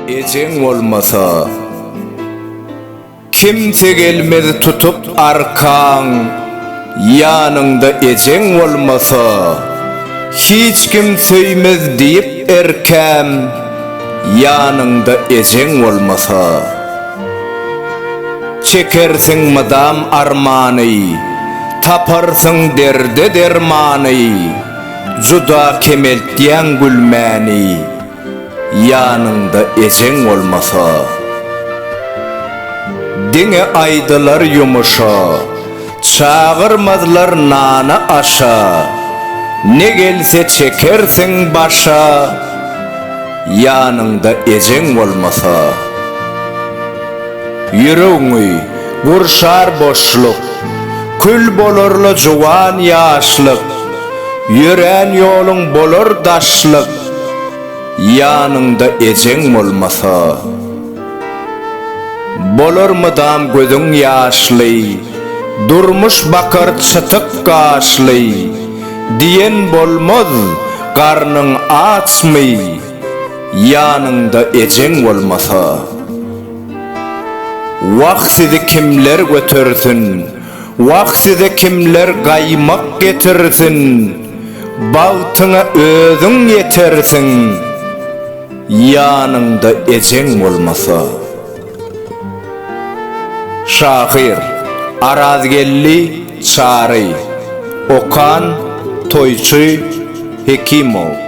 Ejeň bolmasa kimse gelmez tutup arkaň ýanyňda ejeň bolmasa hiç kim söýmez diýip erkäm ýanyňda ejeň bolmasa. Çekersiň mydam armany, Taparsyň derde dermany, Juda kemeltýäň gülmäni, Ýanyňda ejeň bolmasa. Diňe aýdylar ýumuşa. Çagyrmazlar nana-aşa. Ne gelse çekersiň başa. Ýanyňda ejeň bolmasa. Ýüregiňi gurşar boşluk. Kül bolar-la juwan ýaşlyk. Ýörän ýoluň bolar daşlyk. Ýanyňda ejeň bolmasa. Bolar mydam gözüň ýaşly, Durmuş bakar çytyk gaşly, Diýen bolmaz, garnyň açmy, Ýanyňda ejeň bolmasa. Wah sizi kimler götersin, Wah size kimler gaýmak getirsin, Bagtyňa özüň ýetersiň. Ýanyňda ejeň bolmasa. Şahyr, Arazgeldi Çary. Okan, Toýçy Hekimow.